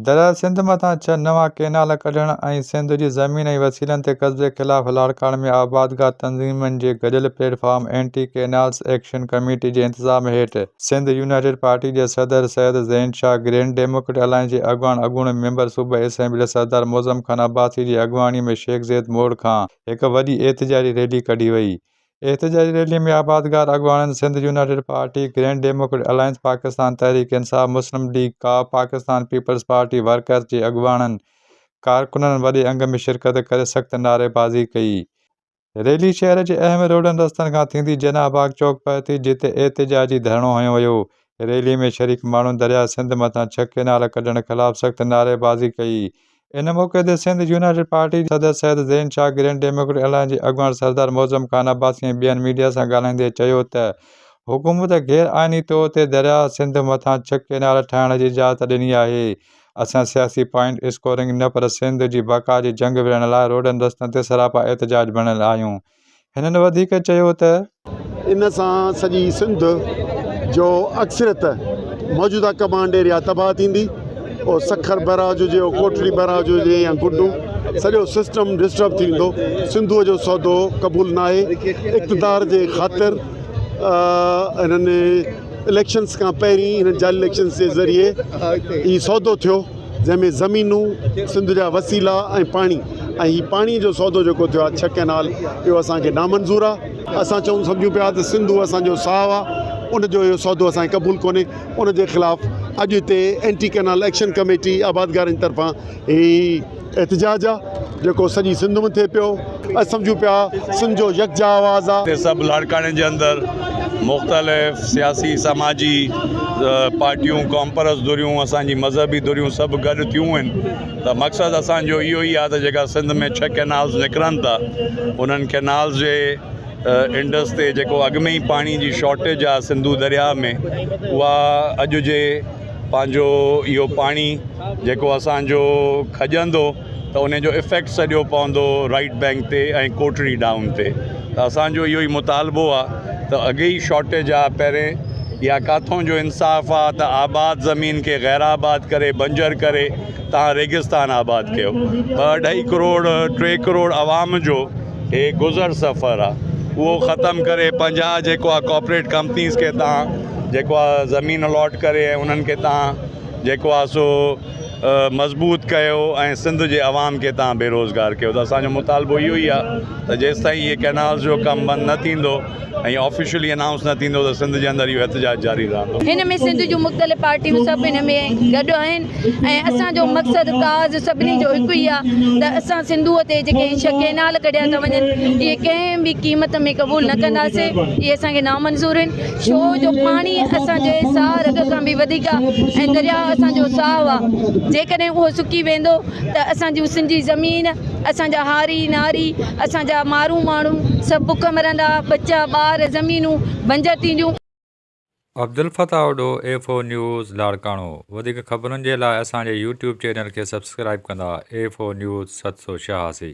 درياء سنڌ مٿان ڇهه نوان ڪئنال ڪڍڻ ۽ سنڌ جي زمين ۽ وسيلن تي قبضي خلاف لاڙڪاڻي ۾ آبادگار تنظيمن جي گڏيل platform anti canals action committee جي انتظام هيٺ سنڌ يونائيٽيڊ پارٽي جي صدر Syed Zain Shah, grand democrat alliance جي اڳواڻ اڳوڻي ميمبر صوبائي اسيمبلي سردار معظم خان عباسي جي اڳواڻي ۾ شيخ زيد موڙ کان هڪ وڏي احتجاجي ريلي ڪڍي وئي احتجاجي ريلي ۾ آبادگار اڳواڻن Sindh united Party, Grand democrat Alliance Pakistan, Tehreek Insaf, Muslim League ق، پاڪستان پيپلز پارٽي ورڪرز جي اڳواڻن، ڪارڪنن وڏي انگ ۾ شرڪت ڪري سخت نعريبازي ڪئي. ريلي شهر جي اهم روڊن رستن کان ٿيندي جناح باغ چوڪ پهتي جتي احتجاجي ڌرڻو هنيو ويو. ريلي ۾ شريڪ ماڻهن درياء سنڌ مٿان ڇهه ڪينال ڪڍڻ خلاف سخت نعريبازي ڪئي ان موقعي تي سنڌ يونائيٽيڊ پارٽي جي صدر Syed Zain Shah, grand democrat alliance جي اڳواڻ سردار معظم خان عباسي ۽ ٻين ميڊيا سان ڳالهائيندي چيو ته حڪومت غير آئيني طور تي درياهه سنڌ مٿان ڇهه ڪينال ٺاهڻ جي اجازت ڏني آهي، اسان سياسي پوائنٽ اسڪورنگ نه پر سنڌ جي بقا جي جنگ وڙهڻ لاء روڊن رستن تي سراپا احتجاج بڻيل آهيون. هنن وڌيڪ چيو ته. ان سان سڄي سنڌ جو اڪثريت موجوده ڪمانڊ ايريا تباهه ٿيندي، پوء سکر بئراج هجي يا ڪوٽڙي بئراج هجي يا گڊو، سڄو سسٽم ڊسٽرب ٿي ويندو، سنڌوء جو سودو قبول ناهي، اقتدار جي خاطر هنن اليڪشنز کان پهرين هنن جعلي اليڪشنز جي ذريعي هي سودو ٿيو. جنهن ۾ زمينون، سنڌ جا وسيلا ۽ پاڻي ۽ هي پاڻي جو سودو جيڪو ٿيو آهي ڇهه ڪئنال اهو اسان کي نامنظور آهي. اسان چئون سمجهون پيا ته سنڌو اسان جو ساهه آهي ان جو اهو سودو اسان کي قبول ڪونهي ان جي خلاف اڄ هتي اينٽي ڪئنال ايڪشن ڪميٽي آبادگارن طرفان هي احتجاج آهي جيڪو سڄي سنڌ ۾ ٿئي پيو. اچ سمجهون پيا سنڌ جو يڪجا آواز آ. هتي سڀ لاڙڪاڻي جي اندر مختلف سياسي سماجي پارٽيون قومپرست ڌريون اسان جي مذهبي ڌريون سڀ گڏ ٿيون آهن ته مقصد اسان جو اهو ئي آهي ته جيڪا سنڌ ۾ ڇهه ڪينالز نڪرن ٿا انهن ڪينالز جي انڊس تي جيڪو اڳ ۾ ئي پاڻي جي شارٽيج آهي سنڌو درياء ۾ اها اڄ جي پنهنجو اهو پاڻي جيڪو اسان جو کڄندو ته ان جو افيڪٽ سڄو پوندو رائيٽ بينڪ تي ۽ ڪوٽڙي ڊائون تي ته اسان جو اهو ئي مطالبو آ ته اڳي ئي شارٽيج آ پهرين يا ڪاٿون جو انصاف آ ته آباد زمين کي غير آباد ڪري بنجر ڪري تان ريگستان آباد ڪيو ٻه اڍائي ڪروڙ ٽي ڪروڙ عوام جو هي گذر سفر آ اهو ختم ڪري پنجاهه جيڪو آ ڪاپريٽ ڪمپنيز کي تان جيڪو آ زمين الاٽ ڪري ۽ انهن کي تان جيڪو آ سو مضبوط ڪيو ۽ سنڌ جي عوام کي تان بي روزگار ڪيو ته اسان جو مطالبو اهو ئي آهي ته جيستائين هي ڪينالز جو ڪم بند نه ٿيندو ۽ آفيشلي انائونس نه ٿيندو ته سنڌ جي اندر اهو احتجاج جاري رهندو. هن ۾ سنڌ جون مختلف پارٽيون سڀ هن ۾ گڏ آهن ۽ اسان جو مقصد ڪاز سڀني جو هڪ ئي آهي ته اسان سنڌوء تي جيڪي هي ڇهه ڪينال ڪڍيا ٿا وڃن اهي ڪنهن به قيمت ۾ قبول نه ڪنداسين اهي اسان کي نامنظور آهن. شو جو پاڻي اسان جي ساهه رڳ کان به وڌيڪ آ ۽ درياء اسان جو ساهه آ جيڪڏهن اهو سڪي ويندو ته اسان جون سنڌي زمين اسان جا هاري ناري اسان جا مارون ماڻهو سڀ بک مرندا ٻچا ٻار زمينون بنجر ٿينديون. Abdul Fattah Addo F O news Larkana وڌيڪ خبرن جي لاء اسان جي يوٽيوب چينل کي سبسڪرائيب ڪندا ايف او نيوز ست سو ڇهاسي.